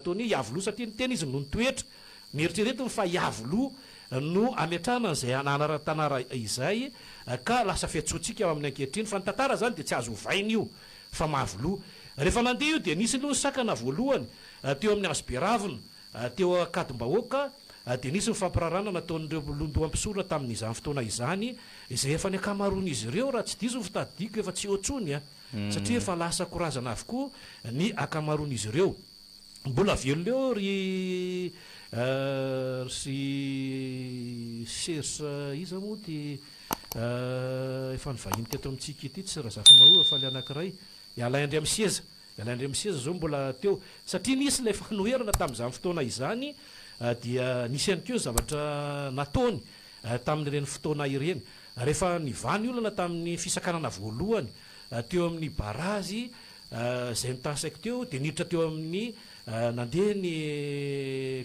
Toa ny Iavoloha satria niteny izy no nitoetra. Noeritreretiny fa Iavoloha no ametrahana an'izay anaran-tanara izay ka lasa fiantsoantsika aminy ankehitriny. Fa ny tantara izany dia tsy azo ovaina io fa Mahavoloha. Rehefa nandeha io dia nisy aloha ny sakana voalohany teo amin'ny hazo be ravina teo Ankadimbahoaka dia nisy ny fampirarana nataon'ireo londoha mpisorona tamin'izany fotoana izany izay efa ny ankamaroan'izy ireo raha tsy diso ny fitadidiako efa tsy eo intsony. satria efa lasa korazana avokoa ny akamaroan'izy ireo. Mbola velona eo ry ry serge iza moa ity efa nivahiny teto amintsika ity tsy razafimahewa fa ilay anankiray i alain andriamiseza i alain andriamiseza zao mbola teo satria nisy ilay fanoherana tamin'izany fotoana izany dia nisy ihany koa zavatra nataony tamin'ireny fotoana ireny Rehefa nivaha ny olana tamin'ny fisakanana voalohany teo amin'ny barazy izay nitansako teo dia niditra teo amin'ny nandeha ny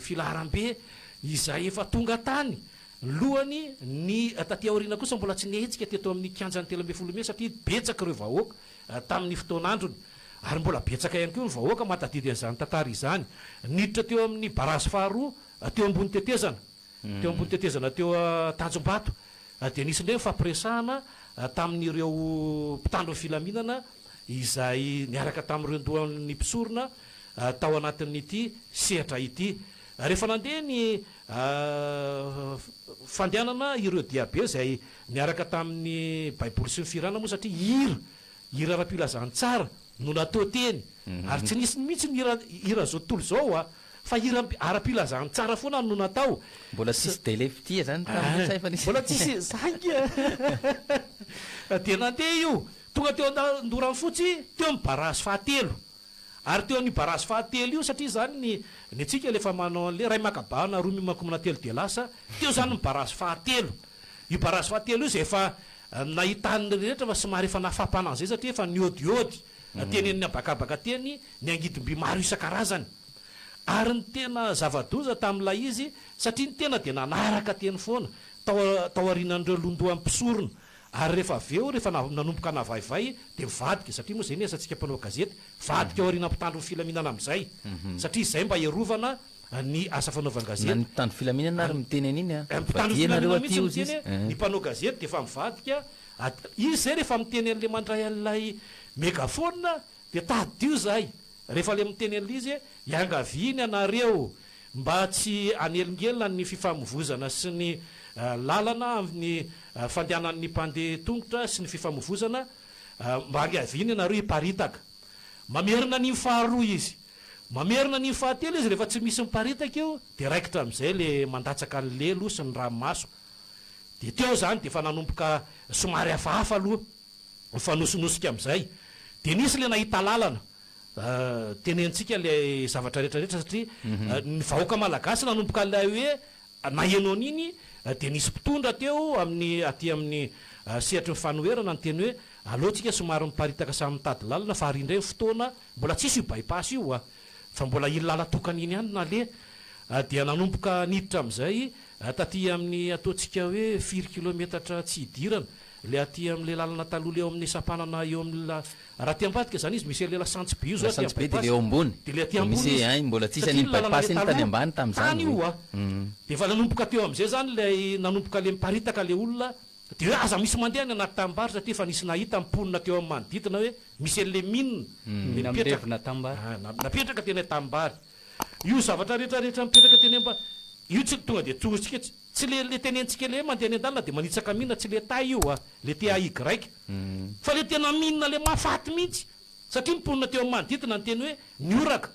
filaharambe izay efa tonga tany lohany ny taty aoriana kosa mbola tsy nihetsika teto amin'ny kianjan'ny telo ambin'ny folo mey satria betsaka ireo vahoaka tamin'ny fotoan'androny ary mbola betsaka ihany koa ny vahoaka mahatadidy an'izany tantara izany niditra teo amin'ny barazy faharoa teo ambony tetezana teo ambony tetezana teo Tanjombato dia nisy indray ny fampiresahana tamin'ireo mpitandro ny filaminana izay niaraka tamin'ireo ndohan'ny mpisorona tao anatin'ity sehatra ity. Rehefa nandeha ny fandehanana ireo diabe izay niaraka tamin'ny baiboly sy ny fihirana moa satria hira, hira ara-pilazantsara no natao teny ary tsy nisy mihitsy ny hira hiran'izao tontolo izao. Fa hira ara-pilazantsara foana no natao. Mbola tsisy délai fitia zany tamin'ny ntsay fa nisy. Mbola tsisy zany a! Dia nandeha io, tonga teo an-doranfotsy teo amin'ny barazy fahatelo. Ary teo amin'io barazy fahatelo io, satria zany ny ny antsika le efa manao an'le iray miakabahana, roa mihomankomana, telo dia lasa, teo zany ny barazy fahatelo. Io barazy fahatelo io izay efa nahitan'ny rehetra fa somary efa nafampana an'izay satria efa niodiody teny amin'ny habakabaka teny ny angidim-by maro isan-karazany, ary ny tena zava-doza tamin'ilay izy, satria ny tena dia nanaraka teny foana, tao, tao aorianan'ireo londohan'ny mpisorona. Ary rehefa avy eo, rehefa na, nanomboka navaivay, dia mivadika, satria moa izay ny asantsika mpanao gazety, vadika ao aorianan'ny mpitandro ny filaminana amin'izay, satria izay mba hiarovana ny asa Na fanaovan-gazety. ny mpitandro filaminana ary miteny an'iny an, Ny mpitandro vadiana nareo filaminana aty mihitsy hozy miteny izy, hoe, ny eh. mpanao gazety dia efa mivadika, at, izy izay rehefa miteny an'ilay mandray an'ilay megaphone, Dia tadidio zahay rehefa le miteny an'ilay izy hoe iangaviany anareo mba tsy hanelingelina ny fifamovozana sy ny lalana amin'ny fandehanan'ny mpandeha tongotra sy ny fifamovozana mba angaviany ianareo hiparitaka. Mamerina an'iny faharoa izy. Mamerina an'iny fahatelo izy rehefa tsy misy miparitaka io dia raikitra amin'izay le mandatsaka ny lelo sy ny ranomaso. Dia teo izany dia efa nanomboka somary hafahafa aloha. mifanosonosika amin'izay. Dia nisy ilay nahita lalana tenenintsika ilay zavatra rehetra rehetra satria ny vahoaka malagasy nanomboka ilay hoe naheno an'iny dia nisy mpitondra teo amin'ny aty amin'ny sehatry ny fanoherana niteny hoe aleontsika somary miparitaka samy mitady lalana fa ary indray ny fotoana mbola tsisy io bypass io a! fa mbola iny lala tokana iny ihany no naleha. Dia nanomboka niditra amin'izay taty amin'ny ataontsika hoe firy kilometatra tsy hidirana. Ilay aty amin'ilay lalana taloha ilay eo amin'ny sampanana eo amin'ny la, raha aty ambadika izany izy misy an'ilay lasantsy be io zao aty amin'ny bypass, dia ilay aty ambony izy, satria ny lalana ilay taloha tany io hoa, dia efa nanomboka teo amin'izay izany ilay nanomboka ilay miparitaka ilay olona, dia hoe aza misy mandeha any anaty tanimbary satria efa nisy nahita ny mponina teo amin'ny manodidina hoe misy an'ilay mine dia mipetraka, napetraka teny an-tanimbary io zavatra rehetra rehetra mipetraka teny amba, io tsy tonga dia tsorintsika tsy. Tsy le le tenentsika le mandeha any an-dalana de manitsaka mina tsy le tay io a, le TAY, fa le tena mina le mahafaty mihitsy satria ny mponina teo amin'ny manodidina niteny hoe nihoraka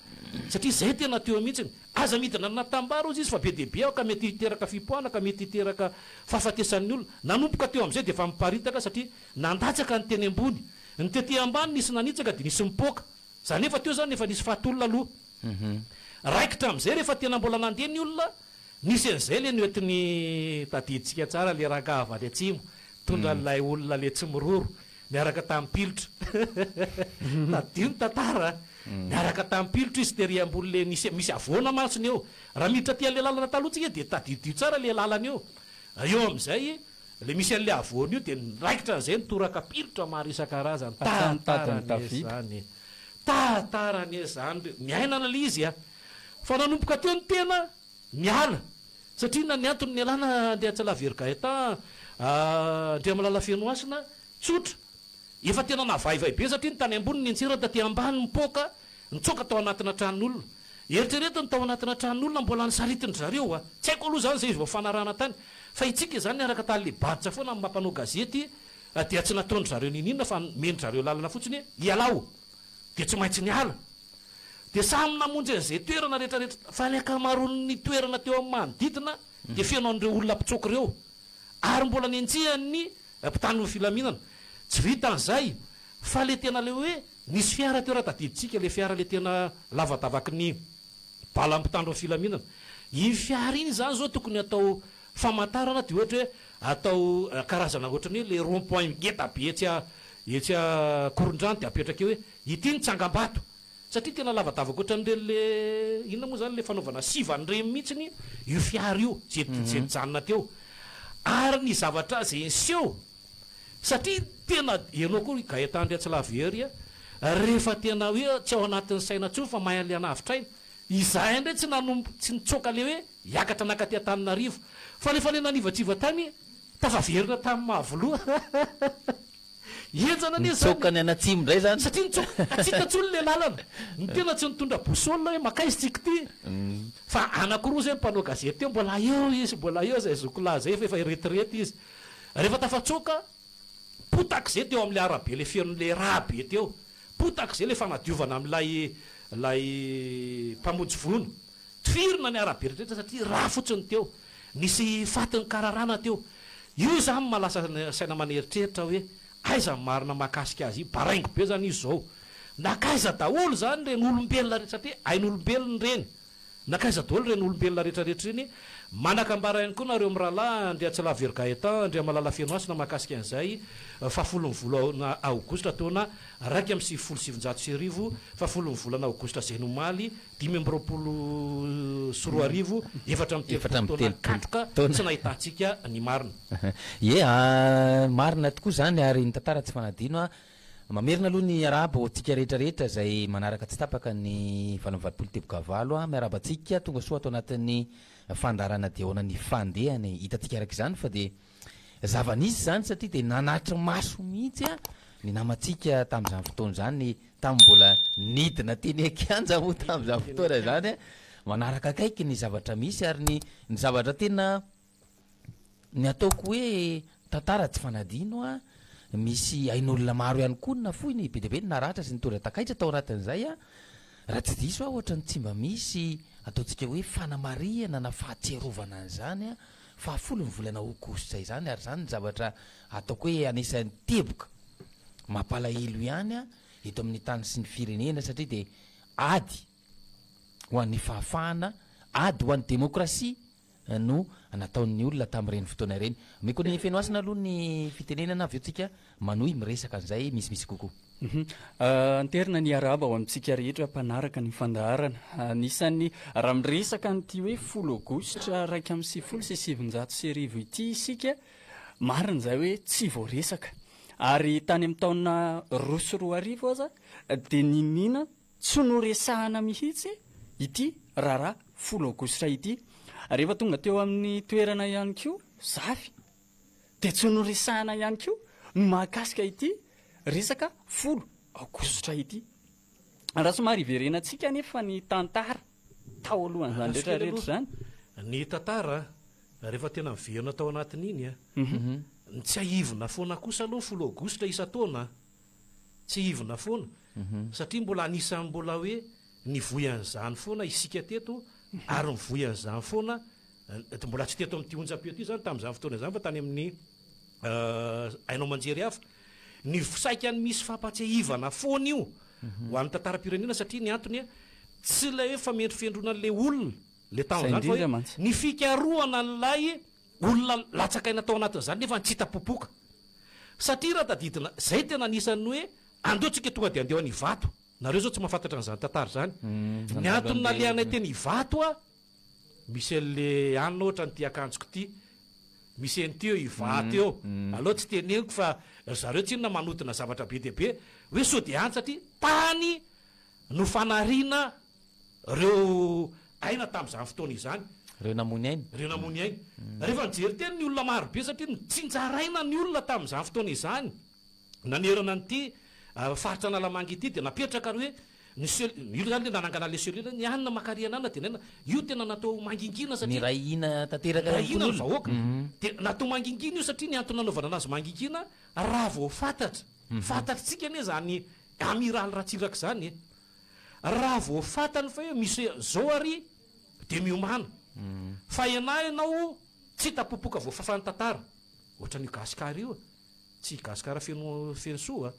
satria zay tena teo mihitsy, aza midina anatambara ozy izy fa be dia be ao ka mety hiteraka fipoahana mety hiteraka fahafatesan'ny olona, nanomboka teo amin'izay dia efa miparitaka satria nandatsaka ny teny ambony, ny tety ambany nisy nanitsaka dia nisy mipoaka, za nefa teo zany efa nisy faty olona aloha, raikitra amin'izay rehefa tena mbola nandeha ny olona. Nisy an'izay le noentiny tadidintsika tsara le rangaha avy any atsimo tondra an'ilay olona le tsy miroro niaraka tamin'ny pilotra tadidio ny tantara a! niaraka tamin'ny pilotra izy tery ambony le nisy misy havoana mantsy ny eo raha miditra aty an'le lalana taloha tsika dia tadidio tsara le lalana eo eo amin'izay le misy an'le havoana io dia niraikitra an'izay ny toraka pilotra maro isan-karazany tantara anie zany tantara anie zany miainana le izy a! Fa nanomboka teo ny tena niala satria inona ny antony nialana Andriantsala very Gaëtan Andriamalala Fenohasina? Tsotra, efa tena navaivay be satria ny tany ambony nenjera taty ambany mipoaka nitsoaka tao anatina tranon'olona. Eritrereto ny tao anatina tranon'olona mbola nisaritin-dry zareo wa. Tsy haiko aloha izany izay izy vao fanarahana tany fa itsika izany niaraka tany le baditra foana amin'ny maha mpanao gazety dia tsy nataon-dry zareo ninoninona fa nomen-dry zareo lalana fotsiny hoe ialao. dia tsy maintsy niala. Dia samy namonjy an'izay toerana rehetrarehetra, fa ny ankamaroan'ny toerana teo amin'ny manodidina dia feno an'ireo olona mpitsoaka ireo, ary mbola nenjehan'ny mpitan'ny filaminana. Tsy vitan'izay, fa ilay tena ilay hoe nisy fiara teo raha tadidintsika, ilay fiara ilay tena lavadavaky ny bala mpitandro ny filaminana. Iny fiara iny izany izao tokony hatao Famantarana dia ohatra hoe atao karazana ohatran'ny hoe le rond point ngeda be etsy etsy Ankorondrano dia apetraka eo hoe ity ny tsangambato satria tena lavadavaka ohatran'ireny le inona moa izany le fanaovana sivana ireny mihitsiny io fiara io izay izay nijanona teo ary ny zavatra izay niseho satria tena ianao koa ry Gaëtan ndry Atsilahy Very a rehefa tena hoe tsy ao anatin'ny saina intsony fa mahay an'ilay hanavotra aina izahay indray tsy nanombo tsy nitsoaka le hoe Hiakatra nankaty Antananarivo. Fanefalena anivatriva tany tafaverina tamin'ny maha filoha. Henjana anie izany. Nitsoaka ny any atsimo indray izany. Satria nitsoaka hatsiaka intsony ilay lalana. Ny tena tsy nitondra boussole hoe mankaiza isika ity. Fa anankiroa izay mpanao gazety teo mbola eo izy mbola eo izay azoko lazaina fa efa eretirety izy. Rehefa tafatsoaka potaka izay teo amin'ilay arabe ilay fenon'ilay rà be teo. Potaka izay ilay fanadiovana amin'ilay ilay mpamonjy voina. Tifirina ny arabe rehetra satria rà fotsiny teo. Nisy fatin'ny kararana teo. Io izany maha lasa saina aman eritreritra hoe aiza ny marina mahakasika azy io. Baraingo be izany izy izao. Nankaiza daholo izany ireny olombelona rehetra satria ain'olombelona ireny. Nankaiza daholo ireny olombelona rehetra rehetra ireny. Manakambara ihany koa nareo mirahalahy Andriatsilaviero Gaëtan, Andriamalala Fenohasina mahakasika an'izay fahafolon'ny volana aogositra taona iraika amby sivifolo sy sivinjato sy arivo, fahafolon'ny volana aogositra izay no omaly, dimy amby roapolo sy roa arivo, efatra amby telopolo taona katroka tsy nahitantsika ny marina. Ie a, marina tokoa izany ary ny tantara tsy fanadino a. Mamerina aloha ny hiarahaba ho antsika rehetra rehetra izay manaraka tsy tapaka ny valo amby valopolo tebokavalo a. Miarahaba antsika tonga soa ato anatin'ny fandaharana Dia ahoana ny fandehany? Hitantsika araka izany fa dia. Zava-nisy izany satria dia nanatri-maso mihitsy ny namantsika tamin'izany fotoana izany, tamin'ny mbola nidina teny an-kianja moa tamin'izany fotoana izany, manaraka akaiky ny zavatra misy ary ny ny zavatra tena ny ataoko hoe tantara tsy fanadino an, misy ain'olona maro ihany koa no nafoy, ny be dia be no naratra sy nitondra takaitra tao anatin'izay an, raha tsy diso aho ohatran'ny tsy mba misy ataontsika hoe fanamarihana na fahatsiarovana an'izany an. Fahafolo ny volana aogositra izany ary izany ny zavatra ataoko hoe anisan'ny teboka mampalahelo ihany eto amin'ny tany sy ny firenena satria dia ady ho an'ny fahafahana, ady ho an'ny demokrasia no nataon'ny olona tamin'ireny fotoana ireny. Omeko an'i Fenohasina aloha ny fitenenana avy eo tsika Manohy miresaka an'izay misimisy kokoa. Anterina ny arahaba ho amintsika rehetra mpanaraka ny fandaharana. Anisan'ny, raha miresaka an'ity hoe folo aogositra iraika amby sivifolo sy sivinjato sy arivo ity isika, marina izay hoe tsy vao resaka. Ary tany amin'ny taona roa sy roa arivo aza dia niniana tsy noresahana mihitsy ity raharaha folo aogositra ity. Rehefa tonga teo amin'ny toerana ihany koa, zafy dia tsy noresahina ihany koa ny mahakasika ity resaka folo aogositra ity. Raha somary hiverenantsika anefa ny tantara tao alohan'izany rehetra rehetra izany. Ny tantara rehefa tena miverina tao anatin'iny, ny tsiahivina foana kosa aloha ny folo aogositra isan-taona, tsiahivina foana, satria mbola anisan'ny mbola hoe nivoy an'izany foana isika teto ary mivoy an'izany foana dia mbola tsy teto amin'ity onjam-peo ity izany tamin'izany fotoana izany fa tany amin'ny haino aman-jery hafa. Ny saika misy fampahatsiahivana foana io mhm. ho an'ny tantaram-pirenena satria ny antony a tsy ilay hoe famendrofendrona an'ilay olona le tamin'izany fa hoe ny fikarohana an'ilay olona latsakaina tao anatin'izany nefa tsy hita popoka satria raha tadidina zay tena anisan'ny hoe andeo tsika tonga de andeo any ivato nareo zao tsy mahafantatra an'izany tantara zany mm, ny antony nalehanay teny ivato a Misy anle an ohatra an'ity akanjoko ity misy an'ity eo Ivato eo aleo tsy teneniko fa ry zareo tsinona manodina zavatra be dia be hoe sao dia antsa ty tany no fanariana reo aina tamin'izany fotoana izany Reo namony aina. reo namony aina rehefa nijery teny ny olona maro be satria nitsinjaraina ny olona tamin'izany fotoana izany. nanerana an'ity faritra Analamanga ity dia napetraka ary hoe ny cell, io izany ilay nanangana ilay cellule, ny anona Makariana anona tenenina, io tena natao mangingina satria, Miray hina tanteraka miray hina ny mpon'olona. vahoaka, dia natao mangingina io satria ny antony nanaovana anazy mangingina raha vao fantatra, fantatritsika anie izany Amiraly Ratsiraka izany e, raha vao fantany fa hoe misy izao ary dia miomana, fa ianà ianao tsy hita popoka voafafan'ny tantara, ohatran'io Gasikara io e. Tsy Gasikara feno feno soa a!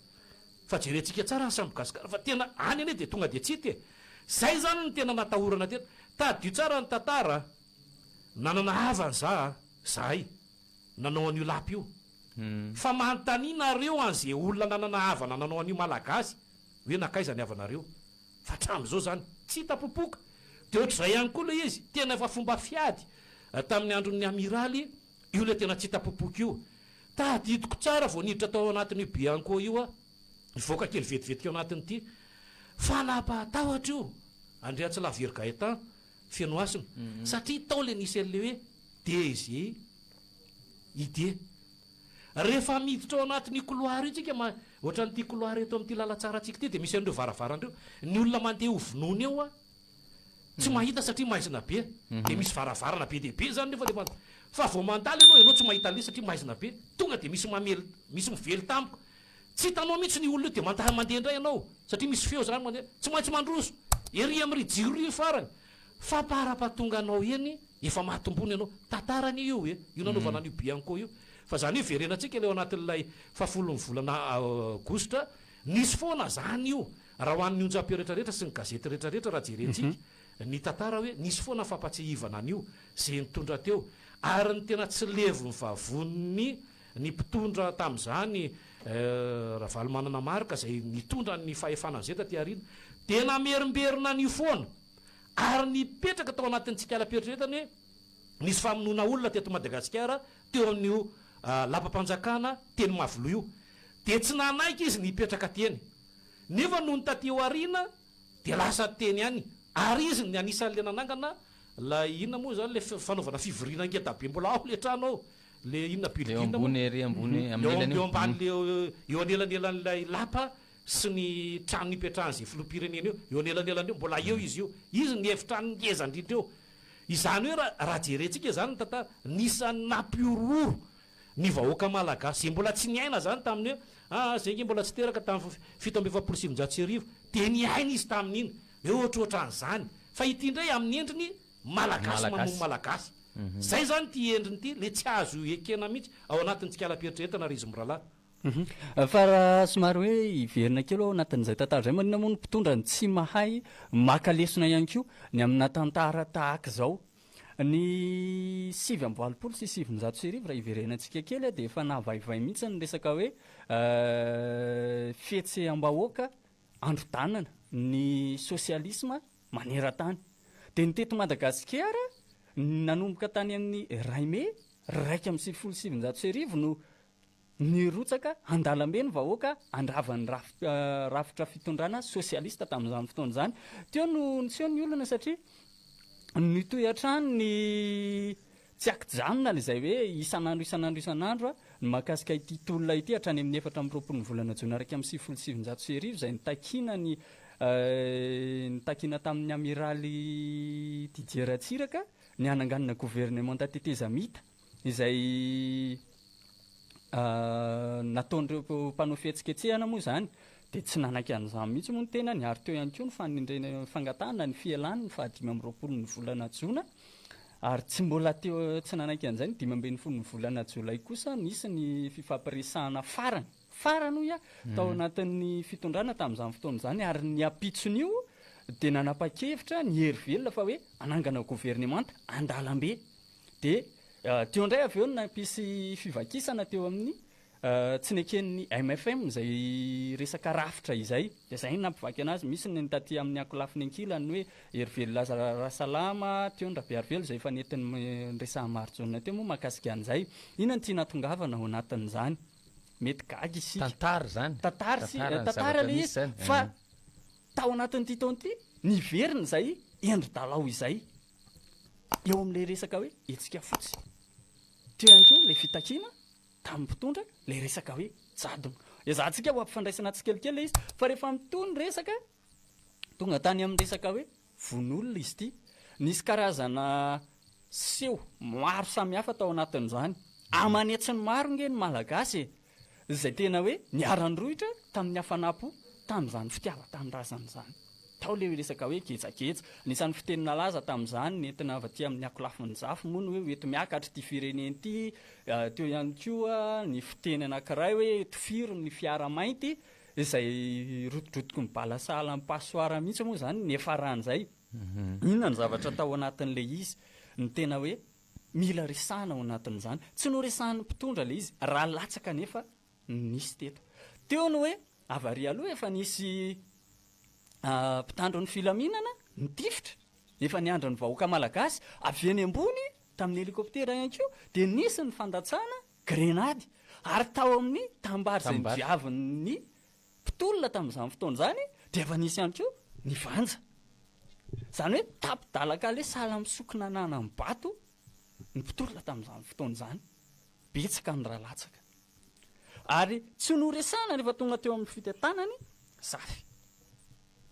Fa jerentsika tsara ny sambo Gasikara fa tena any anie dia tonga dia tsy hita e! Zay zany ny tena natahorana tena! Tadidio tsara ny tantara a! Nanana havany za a! Zahay nanao an'io lapa io! Fa manontania nareo an ze olona nanana havana nanao an'io Malagasy hoe nankaiza ny havanareo? Fa hatramin'izao zany tsy hita popoka! De ohatr'izay ihany koa le izy tena efa fomba fiady tamin'ny andron'ny Amiraly Io ilay tena tsy hita popoka io. Tadidiko tsara vao niditra tao anatin'io Bianco io aho. Nivoaka kely vetivety teo anatin'ity fanapahan-tahotra io, Andriantsilaviry Gaëtan, Fenohasina, satria tao ilay nisy an'ilay hoe DGID. Rehefa miditra ao anatin'io couloir io tsika, ma, ohatran'ity couloir eto amin'ity lalan-tsarantsika ity, dia misy an'ireo varavarana ireo. Ny olona mandeha hovonoina eo aho. tsy mahita satria maizina be dia misy varavarana be dia be zany nefa rehefa fa vao mandalo ianao ianao tsy mahita anle satria maizina be tonga dia misy mamely misy mively tampoka tsy hitanao mihitsy ny olona eo dia mandaha mandeha indray ianao satria misy feo zany mandeha tsy maintsy mandroso ery amin'ry jiro ry farany fa parapatonga anao eny efa mahatombony ianao tantara anie io e io nanaovana an'io bianco io fa zany io verenantsika le ao anatin'ilay fahafolon'ny volana aogositra nisy foana zany io Raha ho an'ny onjampeo rehetrarehetra sy ny gazety rehetrarehetra raha jerentsika ny tantara hoe nisy foana fampatsiahivana an'io ze nitondra teo ary ny tena tsy levon'ny vavonin'ny ny mpitondra tamin'izany Ravalomanana Marc izay nitondra ny fahefana an'izay taty aoriana dia namerimberina an'io foana ary nipetraka tao anatin'ny tsikalampieritreretany hoe nisy famonoana olona teto Madagasikara teo amin'io Lapam-panjakana teny Mahaviloha io dia tsy nanaiky izy ny hipetraka teny Nefa nony taty aoriana dia lasa teny ihany ary izy ny anisan' ilay nanangana ilay inona moa izany ilay fanaovana fivoriana ngeda be mbola ao ilay trano ao ilay inona building moa eo ambany eo anelanelan' ilay lapa sy ny trano nipetrahan' izay filoham-pirenena eo eo anelanelan' eo mbola eo izy io izy ny efitrano ngeza indrindra eo izany hoe raha jerentsika izany ny tantara nisany nampihorohoro ny vahoaka malagasy izay mbola tsy niaina izany tamin'ny hoe ah izay nge mbola tsy teraka tamin'ny fito amby efapolo sy sivinjato sy arivo dia niaina izy tamin'iny hoe ohatrohatran'izany fa ity indray amin'ny endriny malagasy mamono malagasy izay izany ity endriny ity ilay tsy azo ekena mihitsy ao anatin'ny tsikala-pieritreretana ry izy mirahalahy. Fa raha somary hoe hiverina kely ao anatin'izay tantara izay, maninona moa ny mpitondra no tsy mahay maka lesona ihany koa ny amina tantara tahaka izao? Ny sivy amby valopolo sy sivinjato sy arivo raha iverenantsika kely dia efa nahavaivay mihitsy ny resaka hoe fihetseham-bahoaka androdanana ny sosialisma manerantany. Dia ny teto Madagasikara, nanomboka tany amin'ny iray mey iraika amby sivifolo sy sivinjato sy arivo no Nirotsaka an-dalambe ny vahoaka handrava ny rafitra fitondrana sosialista tamin'izany fotoana izany. Teo no niseho ny olana satria nitohy hatrany ny tsiakijanona an'izay hoe isan'andro isan'andro isan'andro ny mahakasika ity tolona ity hatrany amin'ny efatra amby roapolo ny volana jona iraika amby sivifolo sy sivinjato sy arivo izay nitakiana ny nitakiana tamin'ny Amiraly Didier Ratsiraka ny hananganana governemanta tetezamita. Izay nataon'ireo mpanao fihetsiketsehana moa izany dia tsy nanaiky an'izany mihitsy moa ny tenany ary teo ihany koa ny fanendrena fangatahana ny fialany ny fahadimy amby roapolo ny volana jona ary tsy mbola teo tsy nanaiky an'izay ny dimy ambin'ny folo ny volana jolay kosa nisy ny fifampiresahana farany. farany hoy aho tao anatin'ny fitondrana tamin'izany fotoana izany ary ny ampitson'io dia nanapa-kevitra ny hery velona fa hoe hanangana governemanta an-dalambe dia ah, teo indray avy eo no nampisy fivakisana teo amin'ny ah, tsy neken'ny MFM izay resaka rafitra izay dia izay no nampivaky anazy misy ny taty amin'ny ankolafiny ankilany hoe hery velona rasalama teo ny rabearivelo izay efa nentin'ny resahan'i Marijaona teo moa mahakasika an'izay inona no tiana hatongavana ao anatin'izany mety gaga isika. Tantara izany. Tantara sy tantara ilay izy fa tao anatin'ity taona ity niverina izay endri-dalao izay eo amin'ilay resaka hoe hetsika fotsy. Teo ihany koa ilay fitakiana tamin'ny mpitondra ilay resaka hoe jadona. Ezahantsika ho ampifandraisana tsikelikely ilay izy fa rehefa mitohy ny resaka tonga tany amin'ny resaka hoe Vono olona izy ity. Nisy karazana seho maro samihafa tao anatin'izany. Aman'hetsiny maro ange ny Malagasy e! izay tena hoe niara-nirohitra tamin'ny hafanam-po tamin'izany fitiavan-tanindrazana izany. Tao ilay resaka hoe gejageja. Anisan'ny fiteny nalaza tamin'izany nentina avy aty amin'ny ankolafin-dry zafy moa ny hoe hoeto miakatra ity firenena ity. Teo ihany koa ny fiteny anankiray hoe tofiry ny fiara mainty. Izay rotidrotiky ny bala sahala amin'ny passoire mihitsy moa izany niafaran'izay. Inona ny zavatra tao anatin'ilay izy no tena hoe mila resahina ao anatin'izany? Tsy noresahin'ny mpitondra ilay izy raha latsaka anefa no nisy teto. Teo ny hoe avarihy aloha efa nisy mpitandro ny filaminana nitifitra, efa niandry ny vahoaka malagasy avy eny ambony tamin'ny helicoptère ihany koa dia nisy ny fandatsana, grenady ary tao amin'ny tambary izay nodiavin'ny mpitolona tamin'izany fotoana izany dia efa nisy ihany koa ny vanja. Izany hoe tapi-dalan-kaleha sahala amin'ny sokina nanam-bato ny mpitolona tamin'izany fotoana izany. Betsaka ny ra latsaka. Ary tsy noresahina rehefa tonga teo amin'ny fitentanany Zafy.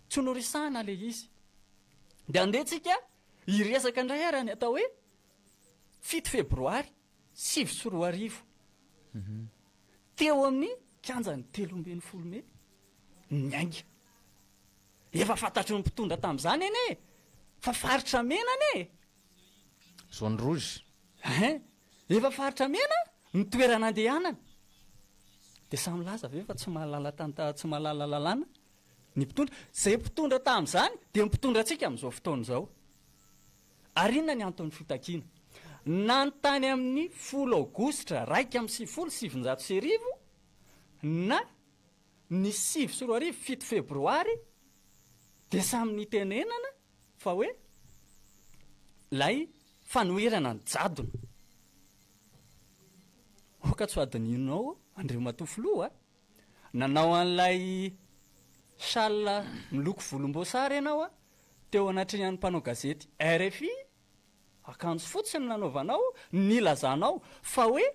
Tsy noresahina ilay izy. Dia andeha antsika hiresaka indray ary ny atao hoe fito febroary sivy sy roa arivo, teo amin'ny kianjan'ny telo ambin'ny folo mey ny ainga. Efa fantatry ny mpitondra tamin'izany anie e! Fa faritra mena anie e! Zone rouge. Hein! Efa faritra mena ny toerana andehanana. Dia samy milaza ve fa tsy mahalala tanta, tsy mahalala lalàna ny mpitondra? Izay mpitondra tamin'izany dia ny mpitondra antsika amin'izao fotoana izao. Ary inona ny anton'ny fitakiana? Nanontany amin'ny folo Aogositra iraika amby sivifolo sy sivinjato sy arivo na ny sivy sy roa arivo, fito Febroary, dia samy nitenenana fa hoe ilay fanoherana ny jadona. Aoka tsy ho adinonao Andriamatoa Filoha a! Nanao an'ilay châle miloko volomboasary ianao teo anatrehan'ny mpanao gazety rfi, akanjo fotsy no nanaovanao, nilazanao fa hoe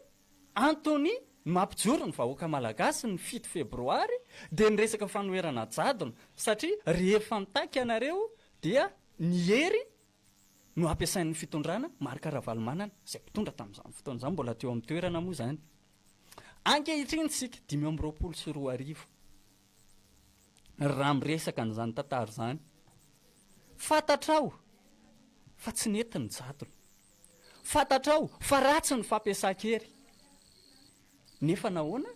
antony mampijoro ny vahoaka malagasy ny fito febroary dia ny resaka fanoherana jadona satria rehefa mitaky ianareo dia ny hery no ampiasain'ny fitondrana, Marc Ravalomanana izay mpitondra tamin'izany fotoana izany, mbola teo amin'ny toerana moa izany. Ankehitriny isika dimy amby roapolo sy roa arivo, raha miresaka an'izany tantara izany, fantatrao fa tsy nety ny jadona, fantatrao fa ratsy ny fampiasan-kery, nefa nahoana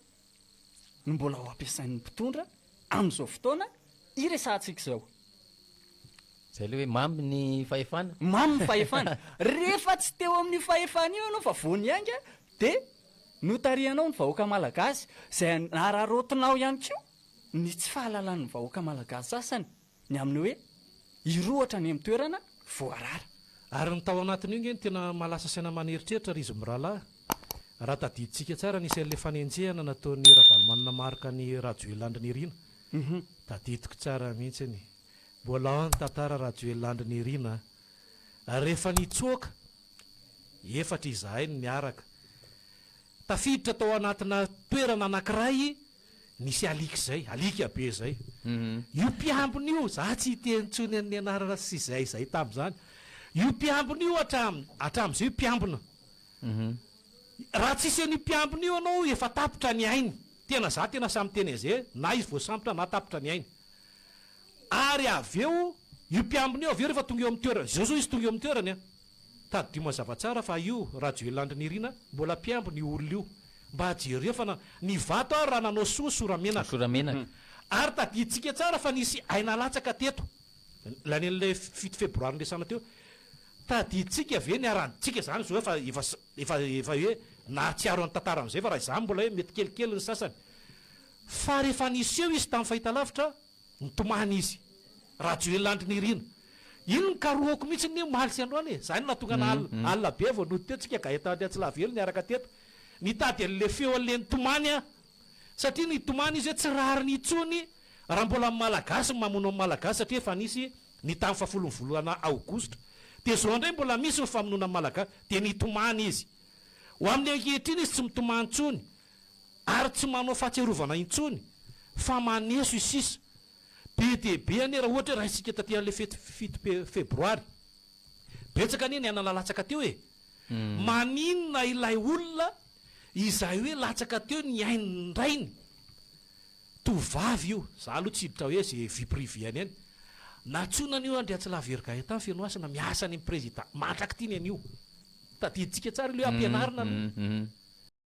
no mbola ho ampiasain'ny mpitondra amin'izao fotoana iresahantsika izao? Izay ilay hoe mamy ny fahefana? Mamy ny fahefana. Rehefa tsy teo amin'io fahefana io ianao fa vao niainga Dia notarihanao ny vahoaka malagasy izay nararaotinao ihany koa ny tsy fahalalan'ny vahoaka malagasy sasany ny amin'ny hoe hirohotra any amin'ny toerana voarara. Ary ny tao anatin'io ange no tena mahalasa saina aman'eritreritra ry izy mirahalahy. Raha tadidintsika tsara ny isan'ilay fanenjehana nataon'i Ravalomanana Marc an'i Rajoelina Andry Nirina. Tadidiko tsara mihitsy ny mbola ao amin'ny tantara Rajoelina Andry Nirina a! Rehefa nitsoaka efatra izahay no niaraka. Tafiditra tao anatina toerana anankiray nisy alika izay, alika be izay. Io mpiambina io, izaho tsy hiteny intsony an'ny anarana sy izay izay tamin'izany. Io mpiambina io hatramin, hatramin'izay io mpiambina. Raha tsy hisy an'io mpiambina io ianao efa tapitra ny ainy. Tena izaho tena sahy miteny an'izay, na izy voasambotra na tapitra ny ainy. ary avy eo io mpiambina io avy eo rehefa tonga eo amin'ny toerana, izao izao izy tonga eo amin'ny toerany an! tadidio mazava tsara fa io Rajoelina Andry Nirina mbola mpiambina io olona io, mba jereo fa na, ny vato ary raha nanao soa sora menaka, Sora menaka. ary tadidintsika tsara fa nisy aina latsaka teto, lany an'ilay fito febroary niresahana teo, tadidintsika ve ny haradintsika izany izao efa, efa, efa, efa hoe nahatsiaro an'ny tantara amin'izay fa raha izany mbola hoe mety kelikely ny sasany, Fa rehefa niseho izy tamin'ny fahitalavitra, nitomany izy. Rajoelina Andry Nirina. Iny nikarohako mihitsy ny omaly sy androany e! Izany no nahatonga ana alina be aho vao nody teo, tsika Gaëtan Andriantsilavelo niaraka teto. Nitady an'le feo an'le nitomany aho. Satria nitomany izy hoe tsy rariny intsony raha mbola amin'ny Malagasy ny mamono amin'ny Malagasy satria efa nisy ny tamin'ny fahafolon'ny volana aogositra. Dia izao indray mbola misy ny famonoana amin'ny Malagasy. Dia nitomany izy. Ho amin'le ankehitriny izy tsy mitomany intsony. ary tsy manao fahatsiarovana intsony fa maneso i sisa. Be dia be anie raha ohatra hoe raisintsika taty an'ilay fety fito febroary. Betsaka anie ny anana nalatsaka teo e! Maninona ilay olona izay hoe latsaka teo ny ain-drainy, tovovavy io, za aloha tsy hiditra hoe ze vie privee-ny any, nantsoina anio an-dry Hatsilavihery Gaëtan Fenohasina miasa any amin'ny prezida, mandrak'ity ny anio. Tadidintsika tsara ilay hoe ampianarina aloha.